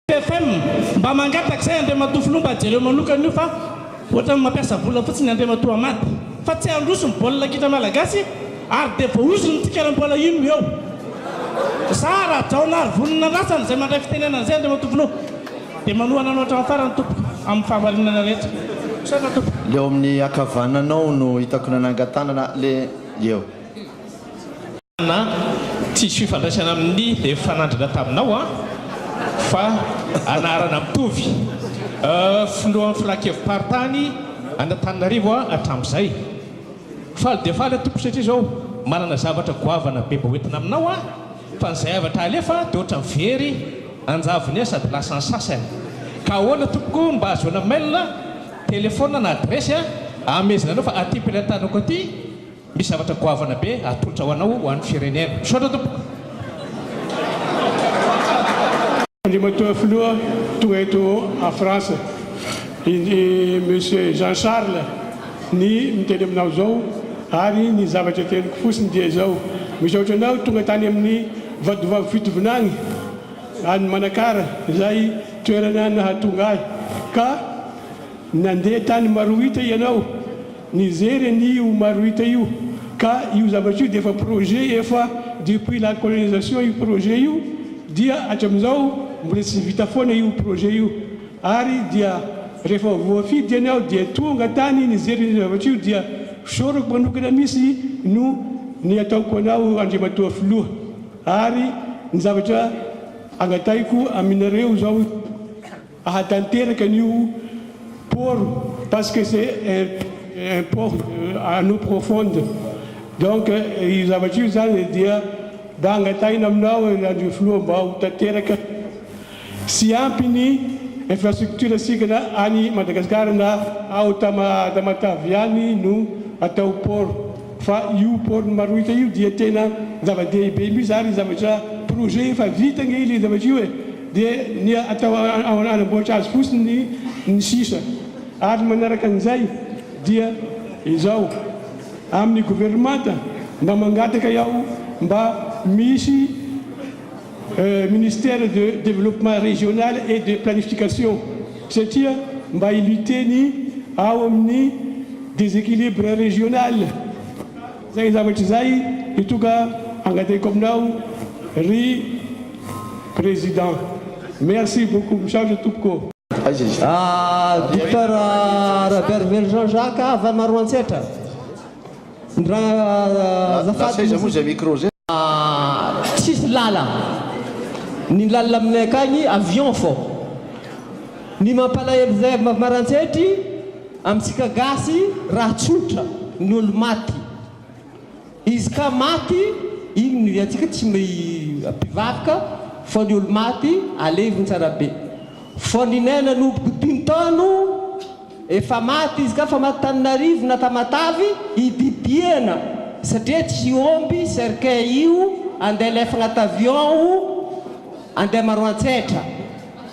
FM, mba mangataka izay Andriamatoa Filoha mba jereo manokana io fa ohatran'ny mampiasa vola fotsiny Andriamatoa Hamady fa tsy handroso ny baolina kitra malagasy ary dia voaozony ny tsikeram-bola iny no eo. Za Rajaonaarivonona Ratsana izay mandray fitenenana izay Andriamatoa Filoha dia manohana anao hatramin'ny farany tompoko amin'ny fahamarinana rehetra. Misaotra tompoko. Le ao amin'ny akavananao no hitako nanangan-tanana le eo. na tsisy fifandraisana amin'ny efa nandrina taminao an, fa anarana mitovy. Filohan'ny Filankevi-paritany an'Antananarivo aho hatramin'izay. Faly dia faly aho Tompoko satria izao manana zavatra goavana be mba hoentina aminao aho, fa ny zayavatra halefa dia ohatran'ny very anjavony ahy sady lasa ny sasany. Ka ahoana Tompoko no mba ahazoana mail, telephone na adiresy ahamehezana anao fa aty am-pilantanako aty Misy zavatra goavana be atolotra ho anao ho an'ny firenena. Misaotra tompoko. Andriamatoa Filoha, tonga eto à France i Monsieur Jean Charles, ny miteny aminao izao ary ny zavatra teniko fotsiny dia izao, misaotra anao tonga tany amin'ny Vadovavy Fitovinagny any Manakara izay toerana nahatonga ahy ka nandeha tany Marohita ianao, Nijery an'io Maruita io, ka io zavatra io dia efa projet efa depuis la colonisation io projet io dia hatramin'izao mbola tsy vita foana io projet io ary dia rehefa voafidy iany aho dia tonga tany nijery an'io zavatra io dia fisaorako manokana misy no ny ataoko anao Andriamatoa Filoha ary ny zavatra angatahiko aminareo izao Ahatanteraka an'io por parce que c'est un por en eau profonde donc io zavatra io zany dia mba angataina aminao andrio filoha mba ho tanteraka sy ampy ny infrastructure sika na any Madagascar na ao Tamatave ihany no atao por fa io por ny Marohitra io dia tena zava-dehibe mihitsy ary zavatra projet efa vita ange le zavatra io e! dia ny atao hanamboatra azy fotsiny ny sisa, ary manaraka an'izay dia izao, amin'ny governemanta mba mangataka aho mba misy ministère de développement régional et de planification satria mba hi-lutter ny ao amin'ny déséquilibre régional. Izay zavatra izay no tonga angatahiko aminao ry Président. Merci beaucoup. Misaotra tompoko. Docteur Rabearivelo Jean Jacques havana Roantsetra ndra azafady misy tsisy lala ny lalina aminay akagny avion fô ny mampalahelo zay avy Marantsety Amintsika gasy raha tsotra ny olo maty izy ka maty iny ny antsika tsy mpivaroka fa ny olo maty aleviny tsara be fa ny nay nanomboky dimy taono efa maty izy ka fa maty taninarivo na tamatavy ididiana satria tsy omby cercueil io andeha alefagna at avion o andeha maroantsetra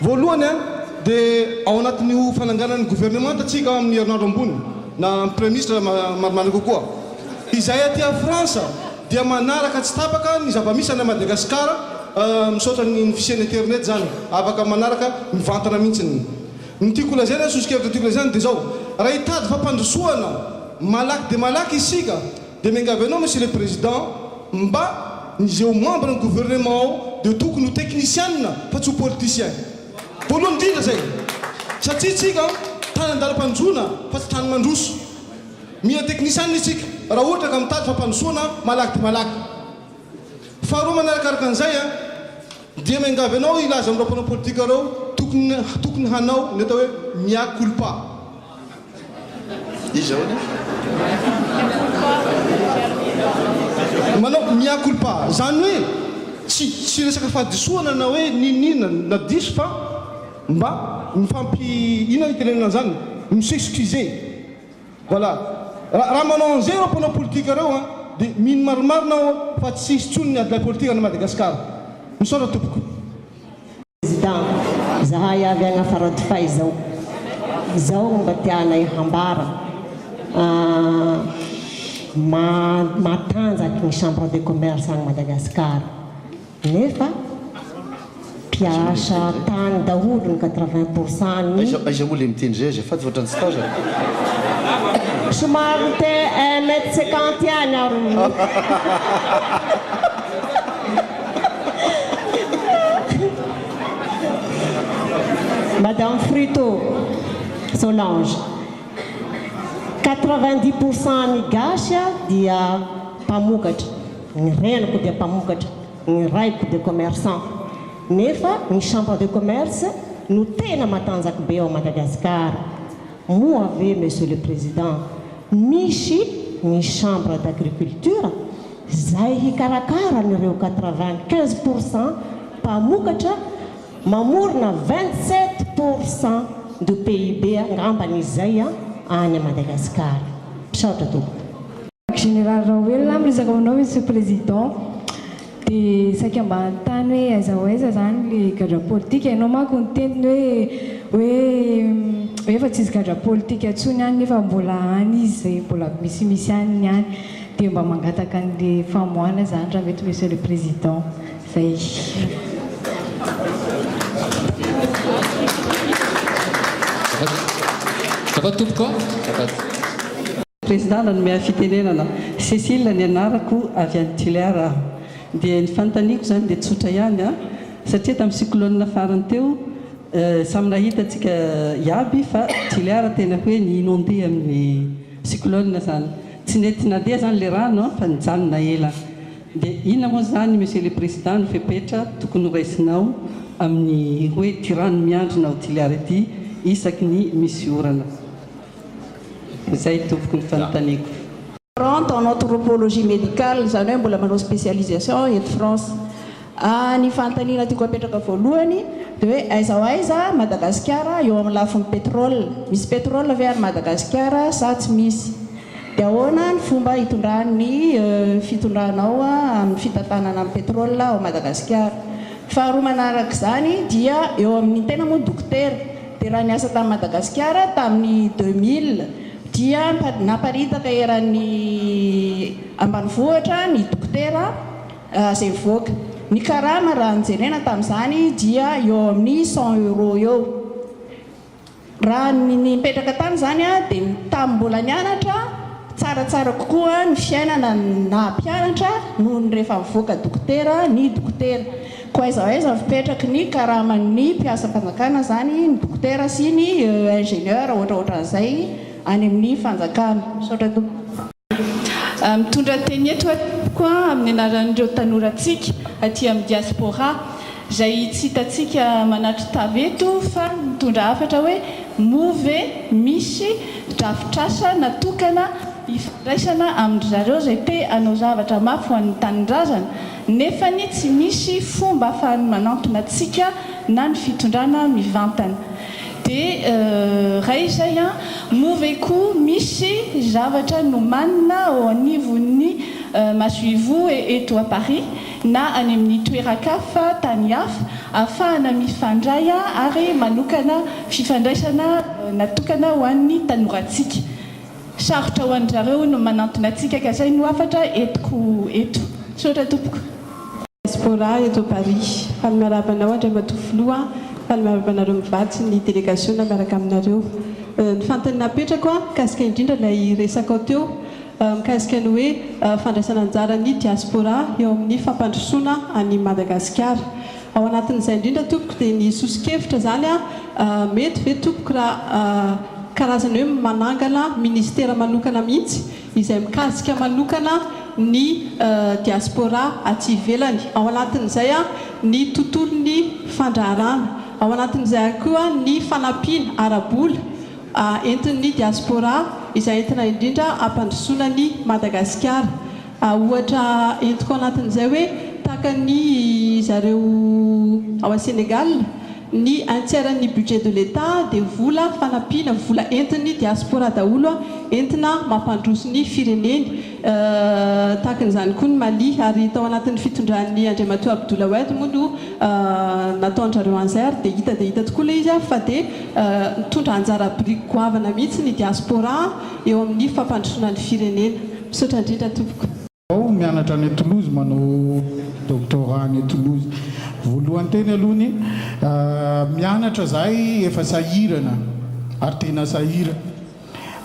Voalohany dia ao anatin'io fananganan'ny governemanta tsika amin'ny herinandro ambony na amin'ny praiministra marimarina kokoa. Izay aty a France dia manaraka tsy tapaka ny zava-misy any Madagascar misaotra ny fisian'ny internet zany afaka manaraka mivantana mihintsy. Ny tiako holazaina, soso-kevitra tiako lazaina dia zao, raha hitady fampandrosoana malaky dia malaky isika, Dia miangavy anao Monsieur le Président mba ny zeo membre ny gouvernement ao dia tokony ho technicianina fa tsy ho politicien. Voalohany indrindra zay. Satria tsika tany andalam-panjoana fa tsy tany mandroso. Mila technicianina isika raha ohatra ka mitady fampandrosoana malaky dia malaky. Faharoa manarakaraka an'izay dia miangavy anao hilaza amin'ireo mpanao politika ireo tokony tokony hanao ny atao hoe mea culpa. Iza hono e? Manao mea culpa, izany hoe tsy tsy resaka fahadisoana na hoe n'inon'inona na diso fa mba mifampi inona itenenana an'izany? mi s'excuser. Voilà. Raha raha manao an'izay ireo mpanao politika ireo an, dia mino marimarina aho fa tsy hisy intsony ny adilay politika any Madagasikara. Misaotra tompoko. Président, izahay avy agn Faradofay izao, izao no mba tianay hambara, matanjaky ny chambre de commerce agny Madagascar, nefa mpiasa tany daholo ny quatre vingt pour cent ny. Aiza aiza moa le miteny zay azafady fa otrany tsy tazako. Somary miteny un mètre cinquante ihany aro. Madame Frito, Solange, quatre-vingt-dix pour cent ny gasy dia mpamokatra, ny reniko dia mpamokatra, ny raiko dia commerçant, nefa ny chambre de commerce no tena matanjaka be ao Madagasikara, moa ve Monsieur le Président misy ny chambre d'agriculture? izay hikarakara an'ireo quatre-vingt-quinze pour cent mpamokatra mamorona vingt-sept pour cent du PIB angambany izay any Madagasikara. Misaotra tompoko. Général Raoelina, miresaka aminao Monsieur Président, dia saika mba hanontany hoe aiza ho aiza izany ilay gadra politika? Ianao manko niteny ny hoe hoe hoe efa tsisy gadra politika intsony any nefa mbola any izy izay mbola misimisy any ny any. Dia mba mangataka an'le famoahana zany raha mety Monsieur le Président. Zay. Président nanome fitenenana. Cécile ny anarako, avy any Tulear aho. Dia ny fanontaniako zany dia tsotra ihany an, satria tamin'ny cyclone farany teo, samy nahita antsika iaby fa Tulear tena hoe ni-inonder amin'ny cyclone zany. Tsy nety nandeha zany le rano an, fa nijanona ela. De inona moa zany Monsieur le Président no fepetra tokony ho raisinao amin'ny hoe ity rano miandrona ao Toliara ity isaky ny misy orana? Dia zay tompoko ny fanontaniako. Rente en anthropologie médicale, izany hoe mbola manao spécialisation eto France. Ary ny fanontaniana tiako apetraka voalohany dia hoe aiza ho aiza Madagasikara eo amin'ny lafiny pétrole? Misy pétrole ve any Madagasikara sa tsy misy? Dia ahoana ny fomba hitondran'ny fitondranao amin'ny fitantanana ny pétrole ao Madagasikara? Faharoa manarak'izany dia eo amin'ny tena moa dokotera dia raha niasa tany Madagasikara tamin'ny deux mille dia naparitaka eran'ny ambanivohitra ny dokotera Raha izay mivoaka. Ny karama raha ny jerena tamin'izany dia eo amin'ny cent euros eo. Raha ny nipetraka tany izany dia tamin'ny mbola nianatra, tsaratsara kokoa ny fiainana ny naha mpianatra noho ny rehefa mivoaka dokotera ny dokotera. Koa aiza ho aiza ny fipetraky ny karaman'ny mpiasam-panjakana izany ny dokotera sy ny ingénieur ohatraohatran'izay any amin'ny fanjakana. Misaotra tompoko. Mitondra teny eto aho amin'ny anaran'ireo tanorantsika aty amin'ny diaspora izay tsy hitantsika manatri-tava eto fa mitondra hafatra hoe moa ve misy drafitrasa natokana hifandraisana amin-dry zareo izay te hanao zavatra mafy ho an'ny tanindrazana nefa tsy misy fomba ahafahany manantona antsika na ny fitondrana mivantana. De ray izay an! Moa ve koa misy zavatra nomanina ao anivon'ny masoivoho eto à Paris na any amin'ny toeran-kafa, tany hafa, ahafahana mifandray ary manokana fifandraisana natokana ho an'ny tanorantsika? Sarotra ho an-dry zareo ny manantona antsika ka izay no hafatra entiko eto. Misaotra tompoko. Diaspora eto Paris. Faly miarahaba anao Andriamatoa Filoha, faly miarahaba anareo mivady sy ny delegasiona miaraka aminareo. Ny fanontaniana apetrako an, mikasika indrindra ilay resakao teo mikasika ny hoe fandraisana anjara ny diaspora eo amin'ny fampandrosoana an'i Madagasikara. Ao anatin'izay indrindra tompoko dia ny soso-kevitra izany aho, mety ve tompoko raha karazana hoe manangana ministera manokana mihitsy izay mikasika manokana ny diaspora aty ivelany, ao anatin'izay aho ny tontolon'ny fandraharana, ao anatin'izay ary koa ny fanampiana ara-bola entin'ny diaspora izay entina indrindra hampandrosoana an'i Madagasikara. Ohatra entiko anatin'izay hoe takan'ny zareo ao à Sénégal, ny un tiers n'ny budget de l'Etat dia vola fanampiana, vola entin'ny diaspora daholo, entina mampandroso ny fireneny. Tahakan'izany koa ny Mali, ary tao anatin'ny fitondran'ny Andriamatoa Abdoul Awed moa no nataon-dRareo anzer, dia hita dia hita tokoa ilay izy fa dia nitondra anjara biriky goavana mihitsy ny diaspora, eo amin'ny fampandrosoana ny firenena. Misaotra indrindra tompoko. Ao mianatra any Toulouse manao doctorat any Toulouse voalohany teny aloha ny mianatra zahay efa sahirana ary tena sahira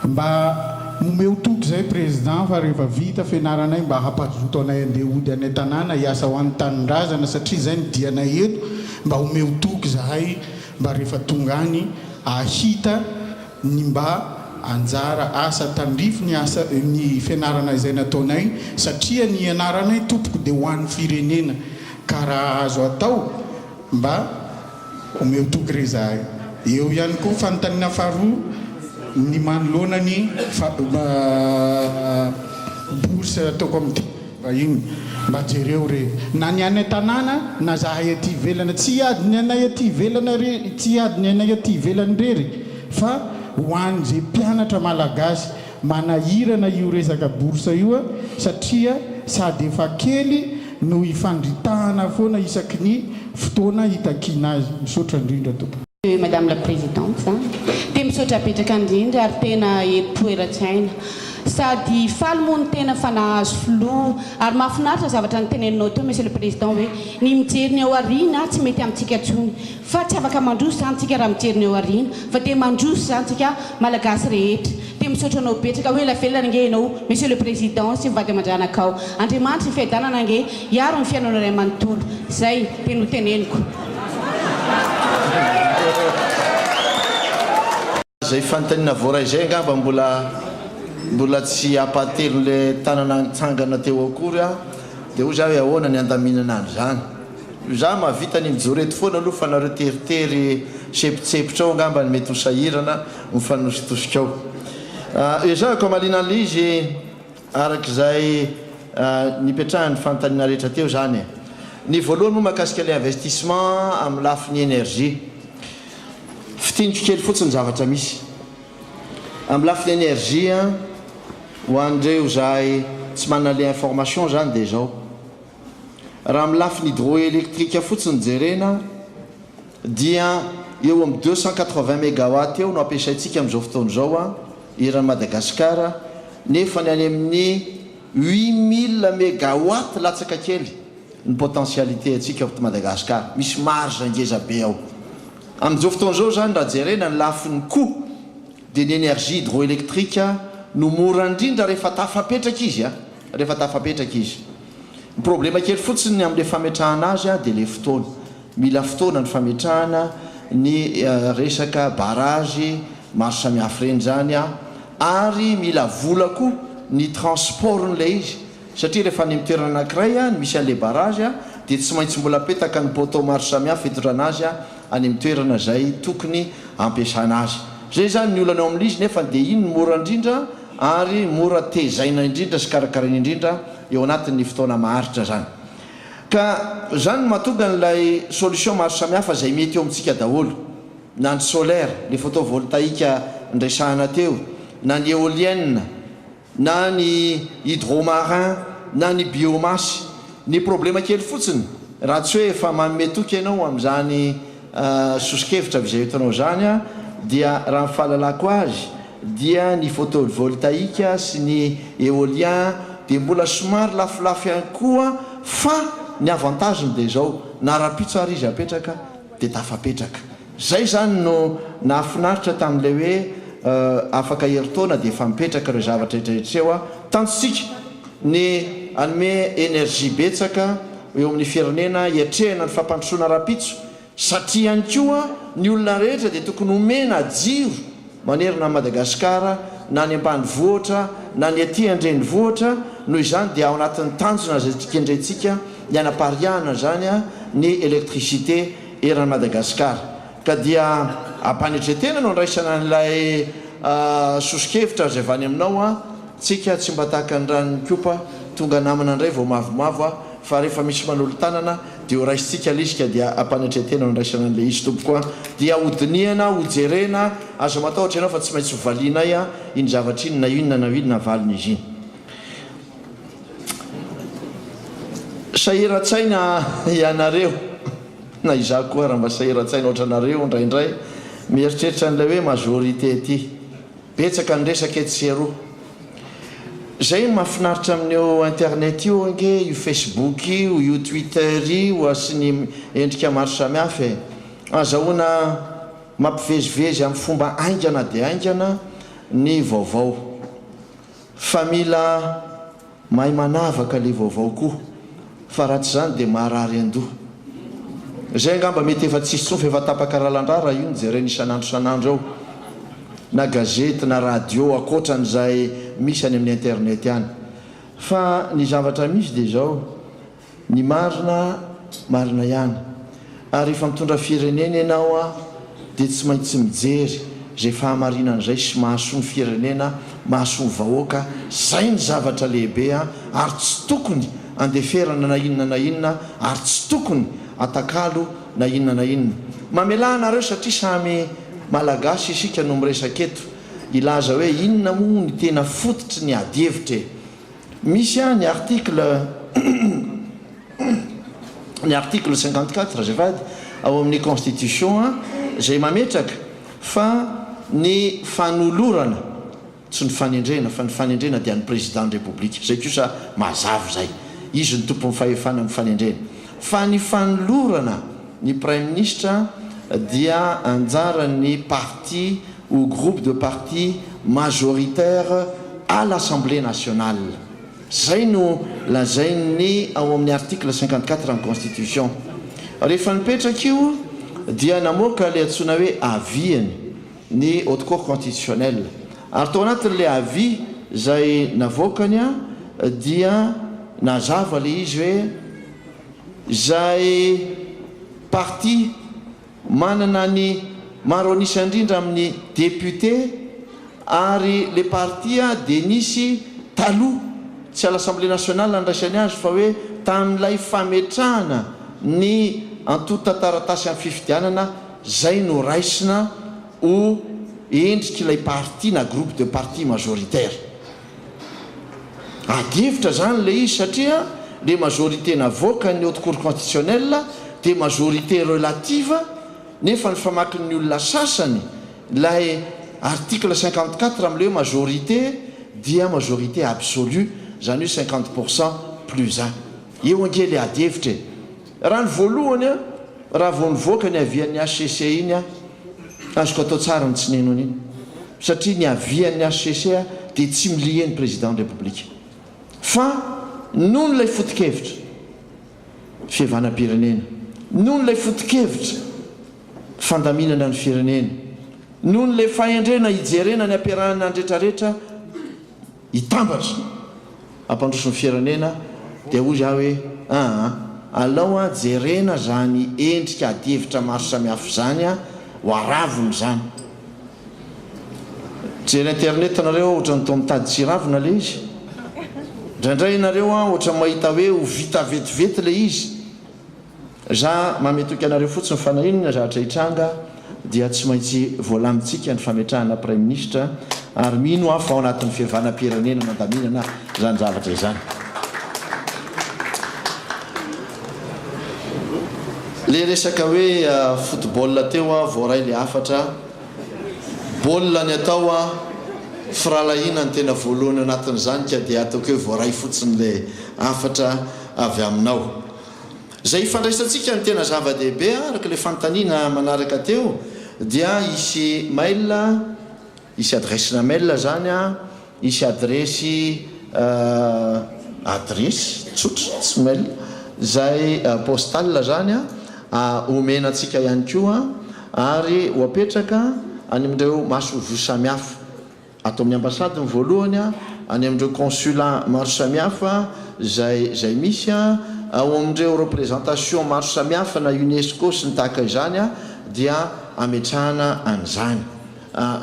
mba momeo toky zay président fa rehefa vita fenaranay mba hampazoto anay andeha hody any an-tanàna hiasa ho any tanindrazana satria zay ny dianay eto mba omeo toky zahay mba rehefa tonga any ahita ny mba anjara asa tandrify ny asa ny fianarana izay nataonay satria ny ianaranay tompoko dia ho an'ny firenena ka raha azo atao mba omeo toky re zahay eo ihany koa fanontaniana faharoa ny manoloana ny bourse ataoko amin'ity vahiny mba jereo re na ny any an-tanàna na zahay aty ivelana tsy hiady ny anay aty ivelana re tsy hiady ny anay aty ivelany rery fa ho any ze mpianatra malagasy manahirana io resaka bourse io a satria sady efa kely no ifandritahana foana isaky ny fotoana itakiana azy misaotra indrindra tompoko. Madame la Présidente za dia misaotra betraka indrindra ary tena eto eran-tsaina sady faly moa ny tena fa nahazo filoha ary mahafinaritra zavatra niteneninao teo Monsieur le Président hoe ny mijery ny ao aoriana tsy mety amintsika intsony fa tsy afaka mandroso izany tsika raha mijery ny ao aoriana fa dia mandroso izany tsika Malagasy rehetra Dia misaotra anao betsaka hoe ela velona ange ianao Monsieur le Président sy ny vady aman-dranakao. Andriamanitra ny fiadanana ange hiaro ny fiainanao iray manontolo. Zay dia noteneniko. Zay fanontaniana voaray zay angamba mbola mbola tsy ampahatelon' le tanana nitsangana teo akory aho dia hoy za hoe ahoana ny handaminana an zany io za mahavita ny mijoreto foana aloha fa nareo teritery sepotsepotra ao angamba ny mety ho sahirana mifanositosikao. Ezahako hamaliana an'ilay izy araka izay nipetrahan'ny fanontaniana rehetra teo izany e. Ny voalohany moa mahakasika ilay investissement amin'ny lafiny énergie. Fintiniko kely fotsiny ny zavatra misy. Amin'ny lafiny énergie, ho an'ireo izay tsy manana ilay information izany dia izao. Raha amin'ny lafiny hydroélectrique fotsiny no jerena dia eo amin'ny deux cent quatre-vingts mégawatts eo no ampiasaintsika amin'izao fotoana izao eran'i Madagasikara nefa ny any amin'ny huit mille mégawatts latsaka kely ny potentialité antsika eto Madagasikara. Misy marge ngeza be ao. Amin'izao fotoana izao izany raha jerena ny lafiny coût dia ny énergie hydroélectrique no mora indrindra rehefa tafapetraka izy. Rehefa tafapetraka izy. Ny problema kely fotsiny amin'ilay fametrahana azy dia ilay fotoana. Mila fotoana ny fametrahana ny resaka barrage maro samihafa ireny izany ary mila vola koa ny transportn'ilay izy satria rehefa any amin'ny toerana anankiray no misy an'ilay barrage dia tsy maintsy mbola apetaka ny poteau maro samihafa hitondrana azy any amin'ny toerana izay tokony hampiasana azy. Izay izany ny olana eo amin'ilay izy nefa dia iny no mora indrindra ary mora tezaina indrindra sy karakaraina indrindra eo anatin'ny fotoana maharitra izany. Ka izany no mahatonga an'ilay solution maro samihafa izay mety eo amintsika daholo, na ny solaire, ilay photovoltaïque niresahana teo, na ny éolienne, na ny hydro-marin, na ny biomasse. Ny problema kely fotsiny, raha tsy hoe efa manome toky ianao amin'izany, Soso-kevitra avy izay entinao izany dia raha ny fahalalako azy dia ny photovoltaïque sy ny éolien dia mbola somary lafolafo ihany koa fa ny avantage-ny dia izao na rahampitso ary izy apetraka dia tafapetraka. Izay izany no nahafinaritra tamin'ilay hoe afaka herintaona dia efa mipetraka ireo zavatra rehetra rehetra ireo tanjontsika. Ny hanome energie betsaka eo amin'ny firenena hiatrehana ny fampandrosoana rahampitso satria ihany koa ny olona rehetra dia tokony homena jiro manerana an'i Madagasikara na any ambanivohitra na ny aty an-drenivohitra, noho izany dia ao anatin'ny tanjona izay kendrentsika ny hanapariahana izany ny électricité eran'i Madagasikara. Ka dia am-panetren-tena no andraisana an'ilay soso-kevitra azo avy any aminao an! Tsika tsy mba tahaka ny ran'ny kopa tonga namana indray vao mavomavo an! Fa rehefa misy manolo-tanana dia horaisintsika ilay izy ka dia am-panetren-tena no andraisana an'ilay izy tompoko an! Dia hodinihana, hojerena, aza matahotra ianao fa tsy maintsy hovalianay an! Iny zavatra iny na inona na inona avalian'izy iny. Sahiran-tsaina ianareo. Na izaho koa ary mba sahiran-tsaina ohatranareo indraindray mieritreritra an'ilay hoe majorité ity. Betsaka ny resaka etsy sy eroa. Izay no mahafinaritra amin'io internet io ange, io Facebook io, io Twitter io ary sy ny endrika maro samihafa e. Azahoana mampivezivezy amin'ny fomba haingana dia haingana ny vaovao. Fa mila mahay manavaka le vaovao koa fa raha tsy zany dia marary andoha. Zay angamba mety efa tsisy tsony fa efa tapaka ralandra raha io no jerena isan'andro isan'andro eo na gazety na radio akoatran'izay misy any amin'ny internet any. Fa ny zavatra misy dia zao. Ny marina marina ihany. Ary rehefa mitondra firenena ianao a dia tsy maintsy mijery izay fahamarinana izay sy mahasoa ny firenena, mahasoa ny vahoaka, izay ny zavatra lehibe a, ary tsy tokony andeferana na inona na inona ary tsy tokony atakalo na inona na inona. Mamelà anareo satria samy Malagasy isika no miresaka eto. Hilaza hoe inona moa ny tena fototry ny ady hevitra e? Misy aho ny article ny article cinquante quatre azafady ao amin'ny constitution an, izay mametraka fa ny fanolorana, tsy ny fanendrena fa ny fanendrena dia an'ny Président-n'ny République, izay kosa mazava izay, izy no tompon'ny fahefana amin'ny fanendrena, fa ny fanolorana ny Praiminisitra dia anjaran'ny parti au groupe de parti majoritaire à l'Assemblée nationale, izay no lazain'ny ao amin'ny article cinquante quatre ny constitution. Rehefa nipetraka io dia namoaka ilay antsoina hoe avis-ny ny haute cour constitutionnelle, ary tao anatin'ilay avis izay navoakany dia nazava ilay izy hoe izay parti, Manana ny maro an'isa indrindra amin'ny député ary le parti dia nisy taloha tsy à l'Assemblée nationale nandraisany azy fa hoe tamin'ilay fametrahana ny antontan-taratasy amin'ny fifidianana zay no raisina ho endrik'ilay parti na groupe de parti majoritaire. Ady hevitra zany le izy satria le majorité navoakan'ny haute cour constitutionnelle dia majorité relative nefa ny famakin'ny olona sasany ilay article cinquante quatre amin'ilay hoe majorité dia majorité absolue izany hoe cinquante pour cent plus un. Eo ange le ady hevitra e! Raha ny voalohany an, raha vao nivoaka ny havian'ny hcc iny an, azoko atao tsara ny tsy nino an'iny, satria ny havian'ny hcc dia tsy milie ny Président ny République. Fa noho ilay fotokevitra fihavanam-pirenena, noho ilay fotokevitra fandaminana ny firenena, noho ilay fahendrena hijerena ny hampiarahana ny retraretra, hitambatra hampandroso ny firenena dia hoy zah hoe aa alao a jerena zany endrika adihevitra maro samihafa zany a ho aravony zany jery internet nareo a otrany toa mitady tsy hiravona le izy ndraindray nareo a otrany mahita hoe ho vita vetivety le izy Za mame toky anareo fotsiny fa na inona zatra hitranga dia tsy maintsy voalamintsika ny fametrahana praiminisitra ary mino aho fa ao anatin'ny fihavanam-pirenena mandaminana izany zavatra izany. Le resaka hoe football teo aho voaray le hafatra, baolina ny atao a, firahalahiana ny tena voalohany ao anatin'izany ka dia ataoko hoe voaray fotsiny le hafatra. avy aminao. Izay hifandraisantsika ny tena zava-dehibe araka ilay fanontaniana manaraka teo dia hisy mail, hisy adiresina mail izany, hisy adiresy, adiresy tsotra tsy mail, izay postal izany homena antsika ihany koa ary ho apetraka any amin'ireo masoivoho samihafa. ato amin'ny ambasady ny voalohany a, any amin'ireo consulat maro samihafa izay izay misy a, ao amin'ireo représentation maro samihafa na UNESCO sy ny tahaka izany a, dia ametrahana an'izany.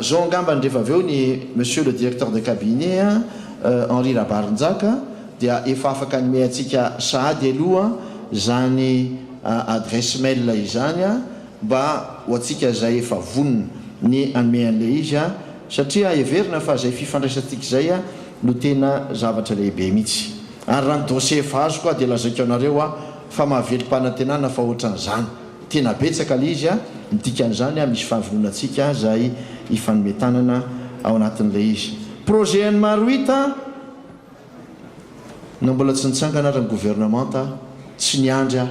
Zao angambany rehefa avy eo ny Monsieur le Directeur de Cabinet a, Henri Rabarinjaka, dia efa afaka hanome antsika sahady aloha izany adresse mail izany a, Mba ho antsika izay efa vonona ny hanome an'ilay izy aho, satria heverina fa izay fifandraisantsika izay no tena zavatra lehibe mihitsy. Ary raha ny dossier efa azoko aho dia lazaiko anareo aho fa mahavelom-panantenana fa ohatran'izany. Tena betsaka ilay izy, ny dikan'izany misy fahavononantsika izay hifanome tanana ao anatin'ilay izy. Projet an'i Marouit an! Na mbola tsy nitsangana ary ny gouvernemanta aho, tsy niandry aho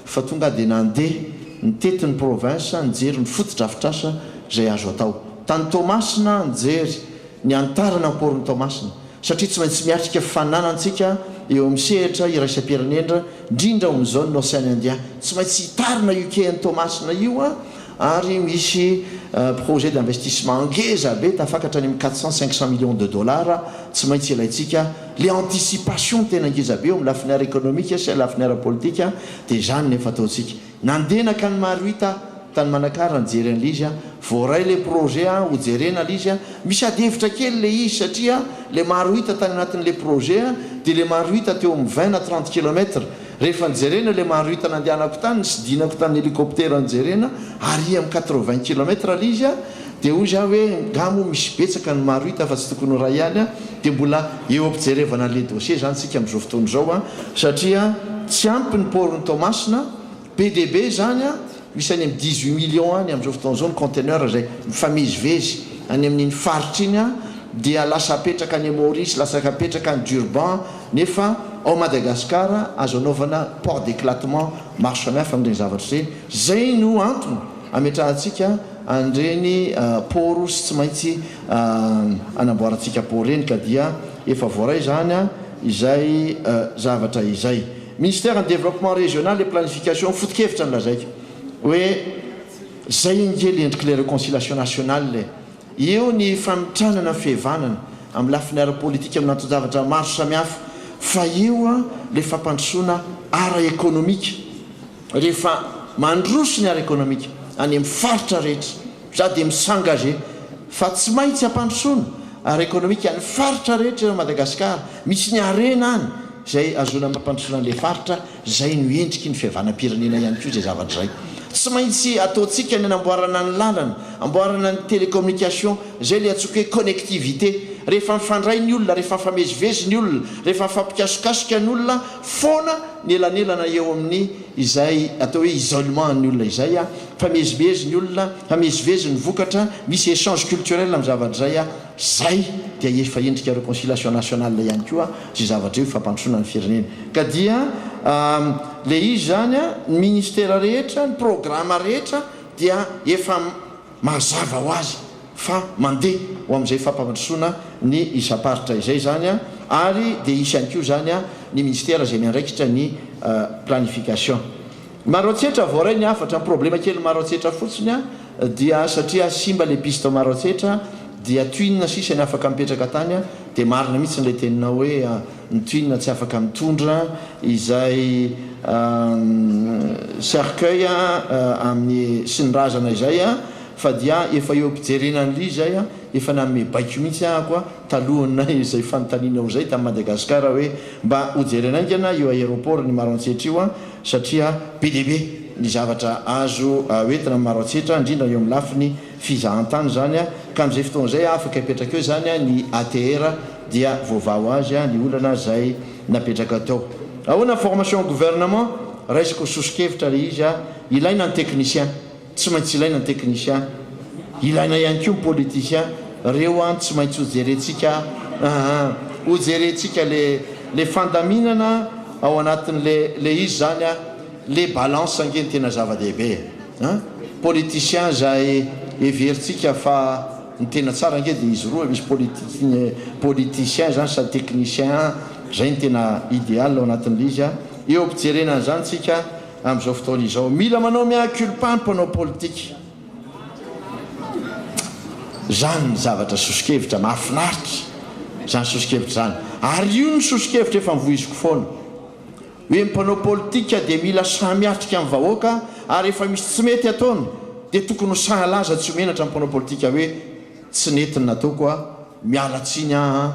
fa tonga dia nandeha nitety ny province nijery ny fotodrafitrasa izay azo atao. Tany Toamasina aho nijery ny hanitarana ny porn'i Toamasina satria tsy maintsy miatrika fananantsika eo amin'ny sehatra iraisam-pirenena indrindra ao amin'izao ny Ocean Indien. Tsy maintsy hitarina io kean'i Toamasina io an! ary misy projet d'investissement ngeza be tafakatra any amin'ny quatre cent, cinq cent millions de dollars tsy maintsy ilaintsika, le anticipation tena ngeza be eo amin'ny lafiny ara-ekonomika sy lafiny ara-politika dia izany no efa ataontsika. Nandenak any Marohita tany Manakara nijery an'ilay izy aho, voaray ilay projet a, ho jerena ilay izy a, misy adihevitra kely ilay izy satria ilay Marohita tany anatin'ilay projet dia ilay Marohita teo amin'ny vingt na trente kilomètres, Rehefa nijerena ilay marohita nandehanako tany, nisidinako tany helikoptera nijerena, aria amin'ny quatre-vingts kilomètre ilay izy, dia hoy za hoe nga moa misy betsaka ny marohita fa tsy tokony ho iray ihany, dia mbola eo am-pijerevana an'ilay dossier izany isika amin'izao fotoana izao, satria tsy ampy ny port-n'i Toamasina, be dia be izany. Misy any amin'ny dix-huit millions any amin'izao fotoana izao ny conteneurs izay mifamezivezy any amin'iny faritra iny an, dia lasa apetraka any Maurice, lasa apetraka any Durban, nefa ao Madagasikara azo anaovana port d'éclatement maro samihafa amin'ireny zavatra ireny, izay no antony ametrahantsika an'ireny port sy tsy maintsy anamboarantsika port ireny ka dia efa voaray izany izay zavatra izay. Ministère ny Développement Régional et Planification foto-kevitra no lazaiko hoe zay ange le endrik'ilay reconciliation nationale e! Eo ny famitranana ny fihevanana amin'ny lafiny ara-politika amin'ny anton-javatra maro samihafa fa eo ilay fampandrosoana ara-ekonomika rehefa mandroso ny ara-ekonomika any amin'ny faritra rehetra. Za dia mi s'engage fa tsy maintsy ampandrosoana ara ekonomika ny faritra rehetra eran'i Madagasikara, misy ny harena any izay ahazoana mampandrosoana an'ilay faritra, izay no endriky ny fihavanam-pirenena ihany koa izay zavatra izay. Tsy maintsy ataontsika ny hanamboarana ny lalana, amboarana ny télécommunication, izay ilay antsoiko hoe connectivité, rehefa mifandray ny olona, rehefa mifamezivezy ny olona, rehefa mifampikasokasoka ny olona foana ny elanelana eo amin'ny izay atao hoe isolement an'ny olona izay. Mifamezimezy ny olona, mifamezivezy ny vokatra, misy echange culturel amin'ny zavatra izay a! Izay dia efa endrika reconciliation nationale ihany koa izay zavatra izay ho fampandrosoana ny firenena. Ka dia ilay izy izany a, ny ministera rehetra, ny programa rehetra dia efa mazava ho azy fa mandeha ho amin'izay fampandrosoana ny isam-paritra izay izany a! Ary dia hisy ihany koa izany a, ny ministera izay miandraikitra ny planification. Maroantsetra voaray ny hafatra, ny problema kely Maroantsetra fotsiny a dia satria simba le piste ao Maroantsetra dia twin sisa ny afaka mipetraka tany a dia marina mihitsy ilay teninao hoe ny twin tsy afaka mitondra izay cercueil amin'ny sy ny razana izay a fa dia efa eo am-pijerena an'ly izay a efa nanome baiko mihitsy aho ko a Talohanay izay fanontaniana ho zay tamin'i Madagasikara hoe mba ho jerena haingana io aéroport n'i Maroantsetra io an, satria be dia be ny zavatra azo ho entina amin'i Maroantsetra indrindra eo amin'ny lafiny fizahantany izany an, ka amin'izay fotoana izay afaka hipetraka eo izany an ny ATR dia voavaho azy an ny olana izay napetraka tao. Ahoana ny formation au gouvernement? Raisiko soso-kevitra ilay izy an, ilaina ny technicien. Tsy maintsy ilaina ny technicien, ilaina ihany koa ny politicien, reo an tsy maintsy ho jerentsika aa, ho jerentsika le le fandaminana ao anatin le le izy zany an, le balance ange no tena zava-dehibe e, politicien zay heverintsika fa ny tena tsara ange de izy roa, misy politicien politicien zany sady technicien an, zay no tena ideal ao anatin le izy an, eo am-pijerena an'izany tsika. Amin'izao fotoana izao, mila manao mea culpa ny mpanao politika. Izany ny zavatra soso-kevitra mahafinaritra, izany soso-kevitra izany. Ary io no soso-kevitra efa nivoiziko foana, hoe ny mpanao politika dia mila sahy miatrika ny vahoaka ary rehefa misy tsy mety ataony dia tokony ho sahy halaza tsy ho menatra ny mpanao politika hoe tsy nety ny nataoko a, miala tsiny aho a.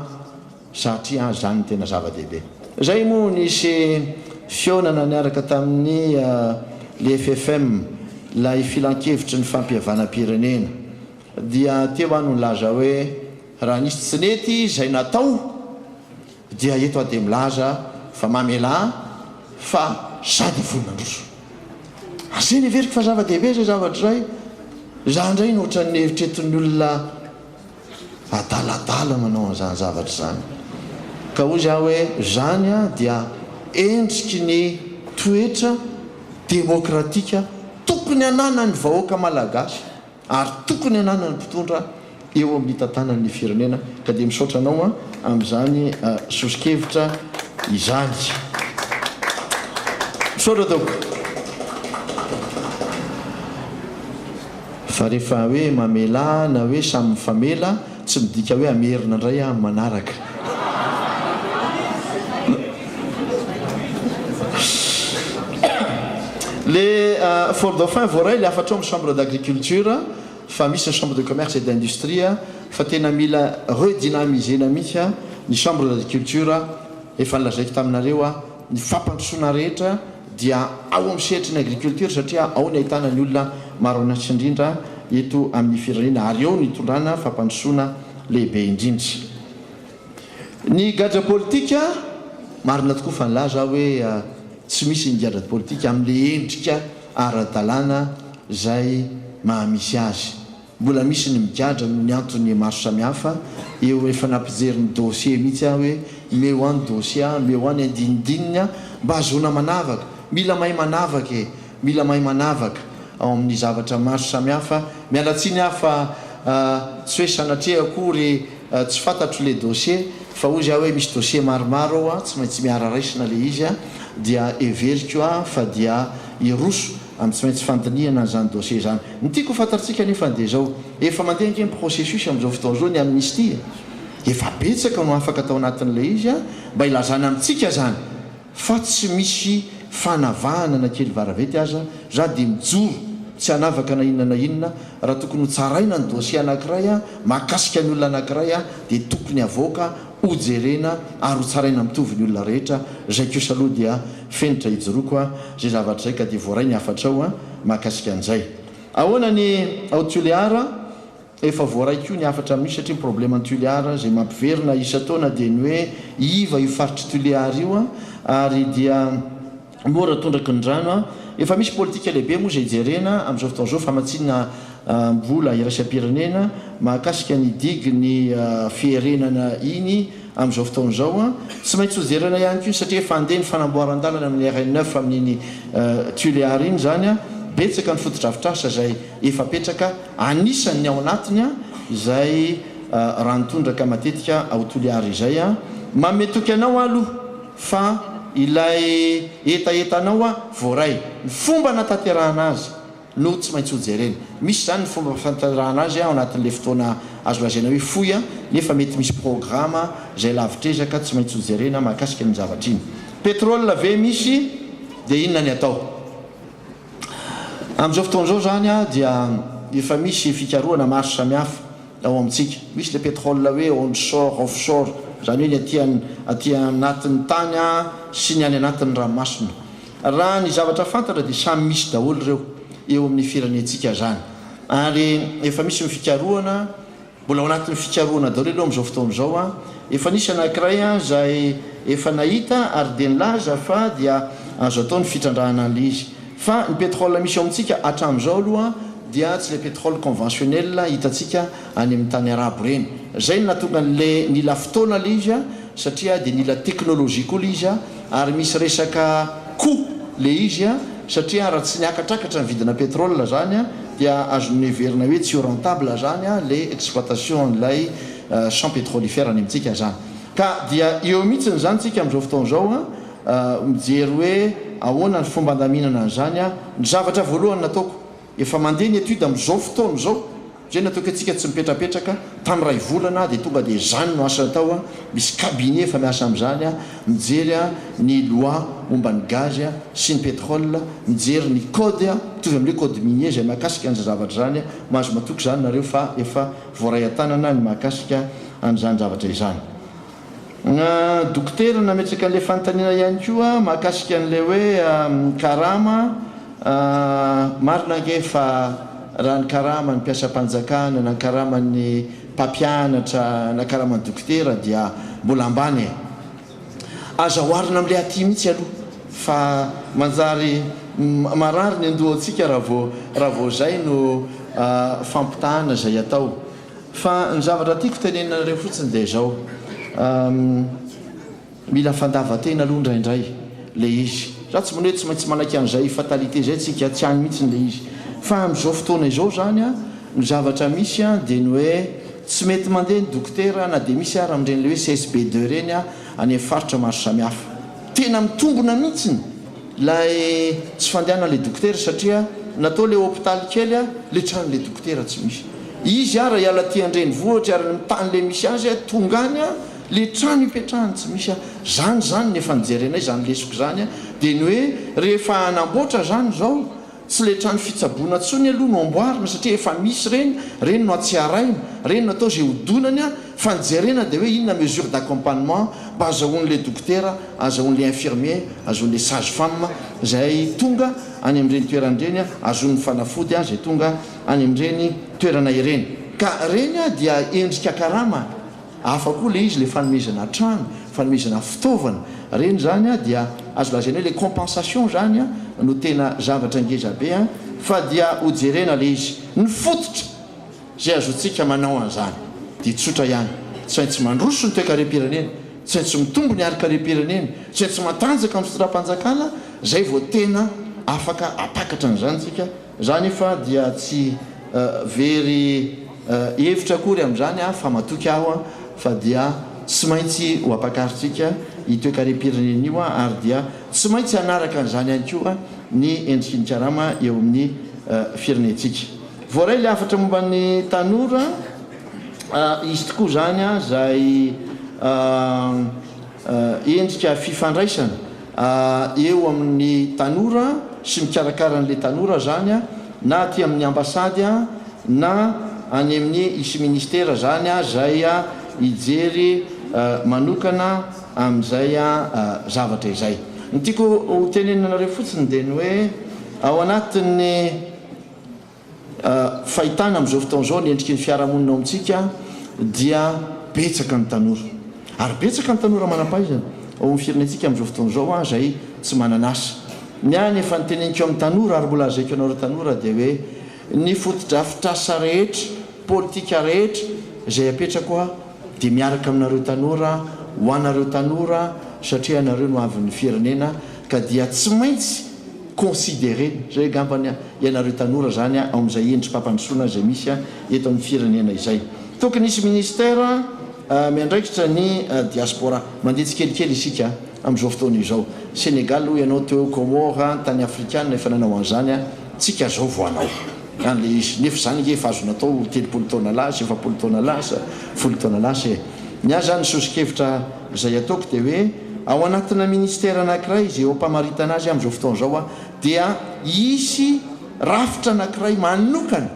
Satria izany no tena zava-dehibe. Izay moa nisy fihaonana niaraka tamin'ny le FFM, ilay filankevitry ny fampihavanam-pirenena, dia teo aho no nilaza hoe raha nisy tsy nety izay natao dia eto aho dia milaza fa mamelà fa sady voa mandroso. Izay no heveriko fa zava-dehibe izay zavatra izay. Izaho indray no ohatran'ny eritreretin'ny olona. adaladala manao an'izany zavatra izany. Ka hoy za hoe zany dia endriky ny toetra demokratika tokony ananan'ny vahoaka malagasy ary tokony ananan'ny mpitondra eo amin'ny hitantanany ny firenena. Ka dia misaotra anao amin'izany soso-kevitra izany. Misaotra tompoko. Fa rehefa hoe mamela na hoe samy mifamela tsy midika hoe hamerina indray aho amin'ny manaraka. Le for dauphin voaray le hafatrao amin'ny chambre d'agriculture fa misy ny chambre de commerce et d'industrie fa tena mila redynamiser-na mihitsy ny chambre d'agriculture efa nolazaiko taminareo aho Ny fampandrosoana rehetra dia ao amin'ny sehatry ny agriculture satria ao ny ahitana ny olona maro an'asa indrindra eto amin'ny firenena ary eo no itondrana fampandrosoana lehibe indrindra. Ny gadra politika, marina tokoa fa nilaza aho hoe tsy misy ny gadra politika amin'ilay endrika ara-dalàna izay maha-misy azy. Mbola misy ny migadra noho ny antony maro samihafa eo efa nampijery ny dossier mihitsy aho hoe meo an dossier an meo an ny andinindininy an mba ahazoana manavaka mila mahay manavaka e mila mahay manavaka ao amin'ny zavatra maro samihafa miala tsiny aho fa tsy hoe sanatria akory tsy fantatro le dossier fa hozy aho hoe misy dossier maromaro ao an tsy maintsy miara raisina le izy an dia heveriko an fa dia hiroso Any tsy maintsy fandinihana an'izany dossier izany. Ny tiako ho fantatsika anefa dia izao, efa mandeha ange ny processus amin'izao fotoana izao ny amnistie e? Efa betsaka no afaka tao anatin'ilay izy a! Mba ilazana amintsika izany fa tsy misy fanavahana na kely varavety aza, za dia mijoro tsy hanavaka na inona na inona, raha tokony ho tsaraina ny dossier anankiray mahakasika ny olona anankiray dia tokony havoaka ho jerena ary ho tsaraina mitovy ny olona rehetra zay kosa aloha dia fenitra ijoroako a! zay zavatra zay ka dia voaray ny hafatrao a! mahakasika an'izay ahoana ny ao Tulear a! efa voaray koa ny hafatra amin'io satria ny problème an'i Tulear zay mampiverina isan-taona dia ny hoe iva io faritr'i Tulear io a! ary dia Mora tondraky ny rano an! Efa misy politika lehibe moa izay jerena amin'izao fotoana izao, famatsiana vola iraisam-pirenena mahakasika ny digue ny fierenana iny amin'izao fotoana izao an! Tsy maintsy ho jerena ihany koa iny satria efa handeha ny fanamboaran-dalana amin'ny RN neuf amin'iny Tuléar iny izany an! Betsaka ny fotodrafitrasa izay efa apetraka, anisany ny ao anatiny an! izay rano tondraka matetika ao Toliara izay an! Manome toky anao aho aloha. Fa ilay hetahetanao a voaray, ny fomba nataterahana azy no tsy maintsy hojerena. Misy izany ny fomba fantaterahana azy ao anatin'ilay fotoana azo lazaina hoe fohy a, nefa mety misy programa izay lavitr'ezaka tsy maintsy hojerena mahakasika an'iny zavatra iny. Petrol ve misy dia inona ny atao? Amin'izao fotoana izao izany dia efa misy fikarohana maro samihafa. ao amintsika. Misy ilay pétrole hoe onshore, offshore, izany hoe ny aty an, aty anatin'ny tany an, sy ny any anatin'ny ranomasina. Raha ny zavatra fantatra dia samy misy daholo ireo eo amin'ny firenentsika izany. Ary efa misy ny fikarohana, mbola ao anatin'ny fikarohana daholo aloha amin'izao fotoana izao an. Efa nisy anankiray an izay efa nahita ary dia nilaza fa dia azo atao ny fitrandrahana an'ilay izy. Fa ny pétrole misy ao amintsika hatramin'izao aloha dia tsy ilay pétrole conventionnel hitantsika any amin'ny tany arabo ireny. Izay no nahatonga an'ilay nila fotoana ilay izy satria dia nila technologie koa ilay izy ary misy resaka coût ilay izy satria raha tsy niakatrakatra ny vidina pétrole izany dia azon'ny heverina hoe tsy ho rentable izany ilay exploitation an'ilay champs pétrolifères any amintsika izany. Ka dia eo mihitsiny izany tsika amin'izao fotoana izao. mijery hoe ahoana ny fomba handaminana an'izany aho. Ny zavatra voalohany nataoko, efa mandeha ny étude amin'izao fotoana izao, izay ny ataoko hoe tsika tsy mipetrapetraka, tamin'ny iray volana aho dia tonga dia izany no asa natao, misy cabinet efa miasa amin'izany aho, mijery ny loi momba ny gaz sy ny pétrole, mijery ny code mitovy amin'ilay code minier izay mahakasika an'izany zavatra izany, mahazo matoky izany nareo fa efa voaray an-tanana ny mahakasika an'izany zavatra izany. Na dokotera nametraka an'ilay fanontaniana ihany koa mahakasika an'ilay hoe karama, marina ange fa raha ny karaman'ny mpiasam-panjakana na ny karaman'ny mpampianatra na karaman'ny dokotera dia mbola ambany e! Aza oharina amin'ilay aty mihitsy aloha fa manjary marary ny andohantsika raha vao izay no fampitahana izay atao. Fa ny zavatra tiako tenenina anareo fotsiny dia izao, mila fandavan-tena aloha indraindray ilay izy. Za tsy mino hoe tsy maintsy manaiky an'izay fatalité izay tsika, tsy any mihitsiny ilay izy. Fa amin'izao fotoana izao izany an, ny zavatra misy an dia ny hoe tsy mety mandeha ny dokotera na dia misy ara amin'ireny ilay hoe CSBD ireny an, any amin'ny faritra maro samihafa. Tena mitombona mihitsiny. Ilay tsy fandehanan le dokotera satria natao le hopitaly kely a le tran le dokotera tsy misy izy ara iala ty andrenivohitry ary ny tany le misy azy a tonga any a le trano ipetrahany tsy misy a zany zany ny efa nijerenay zany lesoko zany a de ny hoe rehefa hanamboatra zany zao Tsy ilay trano fitsaboana intsony aloha no amboarina satria efa misy ireny, ireny no atsiaraina, ireny no atao izay hodonany fa ny jerena dia hoe inona mesure d'accompagnement mba azahoan'ilay dokotera, azahoan'ilay infirmier, azahoan'ilay sage femme izay tonga any amin'ireny toerana ireny, azahoan'ny fanafody izay tonga any amin'ireny toerana ireny. Ka ireny dia endrika karama. Hafa koa ilay izy ilay fanomezana trano, fanomezana fitaovana, ireny izany dia azo lazaina hoe ilay compensation izany no tena zavatra ngezabe fa dia ho jerena ilay izy. Ny fototra izay azotsika manao an'izany dia tsotra ihany, tsy haintsy mandroso ny toekarem-pirenena, tsy haintsy mitombo ny harin-karem-pirenena, tsy haintsy matanjaka amin'ny fitondram-panjakana, izay vao tena afaka hampakatra an'izany isika. Za anefa dia tsy very hevitra akory amin'izany aho fa matoky aho fa dia tsy maintsy ho ampakaritsika io toekarem-pirenena io ary dia tsy maintsy hanaraka an'izany ihany koa ny endriky ny karama eo amin'ny firenentsika. Voaray ilay hafatra momba ny tanora, izy tokoa izany izay endrika fifandraisana eo amin'ny tanora sy mikarakara an'ilay tanora izany na aty amin'ny ambasady na any amin'ny ici ministera izany izay hijery manokana amin'izay zavatra izay. Ny tiako ho tenenina anareo fotsiny dia ny hoe ao anatin'ny Fahitana amin'izao fotoana izao ny endriky ny fiarahamonina ao amintsika dia betsaka ny tanora ary betsaka ny tanora manam-pahaizana ao amin'ny firenentsika amin'izao fotoana izao an, izay tsy manana asa. Ny ahy ny efa noteneniko amin'ny tanora ary mbola lazaiko anareo tanora dia hoe ny fotodrafitrasa rehetra, politika rehetra izay apetrako aho dia miaraka aminareo tanora, ho anareo tanora satria ianareo no avin'ny firenena ka dia tsy maintsy. considerer zay angamba ny ianareo tanora zany ao amin'izay endri-pampandrosoana izay misy eto amin'ny firenena izay. Tokony hisy ministère miandraikitra ny diaspora. Mandeha tsikelikely isika amin'izao fotoana izao. Sénégal hoy ianao teo, Comores, ny tany afrikana efa nanao an'izany, tsika zao vao hanao an'ilay izy. Nefa izany ange efa azo natao telopolo taona lasa, efapolo taona lasa, folo taona lasa e! Ny ahy zany ny soso-kevitra. Izay ataoko dia hoe ao anatina ministera anankiray izay eo am-pamaritana azy amin'izao fotoana izao aho dia hisy rafitra anankiray manokana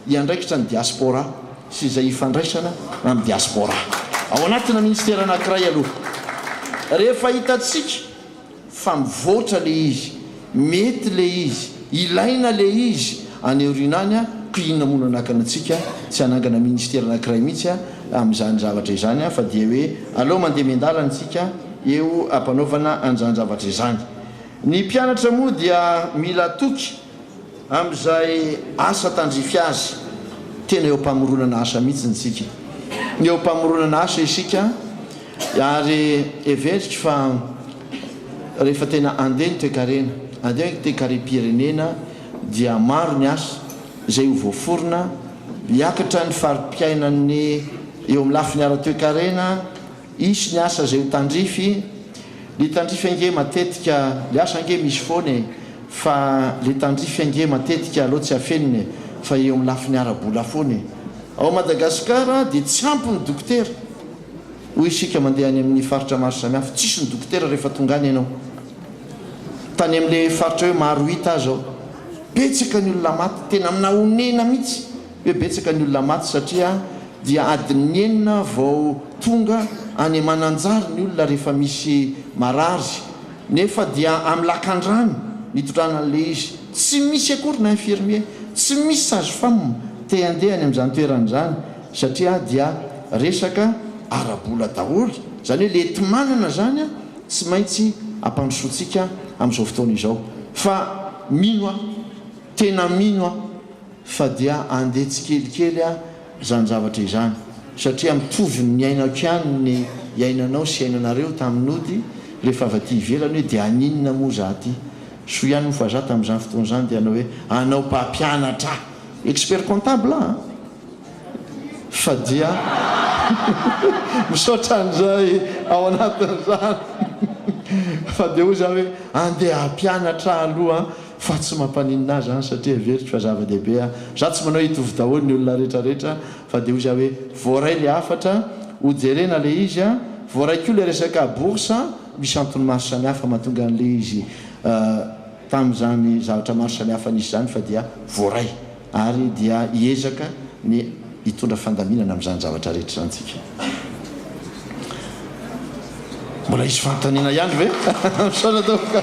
hiandraikitra ny diaspora sy izay hifandraisana amin'ny diaspora ao anatina ministera anankiray aloha rehefa hitantsika fa mivoatra le izy, mety le izy, ilaina le izy, any aoriana any a, ko inona moa no anakana antsika tsy hanangana ministera anakiray mihitsy a, amin'izany zavatra izany a, fa dia hoe aleo mandeha miandalana isika eo ampanaovana an'izany zavatra izany. Ny mpianatra moa dia mila toky. Amin'izay asa tandrify azy. Tena eo am-pamoronana asa mihitsy isika. Eo am-pamoronana asa isika ary heveriko fa rehefa tena handeha ny toekarena, handeha ny toekarem-pirenena dia maro ny asa izay ho voaforona, hiakatra ny fari-piainan'ny eo amin'ny lafiny ara-toekarena, Hisy ny asa izay ho tandrify, le tandrify ange matetika, le asa ange misy foana e, fa le tandrify ange matetika aleo tsy afenina e, fa eo amin'ny lafiny ara-bola foana e. Ao Madagascar dia tsy ampy ny dokotera, hoy isika mandeha any amin'ny faritra maro samihafa, tsisy ny dokotera rehefa tonga any ianao. Tany amin'le faritra hoe Marohita aza aho, betsaka ny olona maty, tena naonena mihitsy. hoe betsaka ny olona maty satria dia adin'ny enina vao tonga any Mananjary ny olona rehefa misy marary nefa dia amin'ny lakandrano nitondrana an'ilay izy, tsy misy akory na infirmier, tsy misy sage femme te handeha any amin'izany toerana izany satria dia resaka ara-bola daholo, izany hoe ilay enti-manana izany tsy maintsy ampandrosoantsika amin'izao fotoana izao fa mino aho, tena mino aho. Fa dia andeha tsikelikely ah zany zavatra izany satria mitovy ny niainako ihany ny iainanao sy iainanareo tamin'ny nody rehefa avy aty ivelany hoe dia haninona moa za aty? Soa ihany moa fa za tamin'izany fotoana izany dia hanao hoe hanao mpampianatra expert comptable ah fa dia misaotra an'izay ao anatin'izany fa dia hoy za hoe andeha hampianatra aloha Fa tsy mampaninona ahy izany satria heveriko fa zava-dehibe aho. Izaho tsy manao hoe hitovy daholo ny olona rehetra rehetra fa dia hoy izaho hoe voaray ilay hafatra ho jerena ilay izy an! Voaray koa ilay resaka bourse an! Misy antony maro samihafa mahatonga an'ilay izy tamin'izany zavatra maro samihafa nisy izany fa dia voaray ary dia hiezaka ny hitondra fandaminana amin'izany zavatra rehetra izany tsika. Mbola hisy fanontaniana ihany ve? Misaotra tompoko.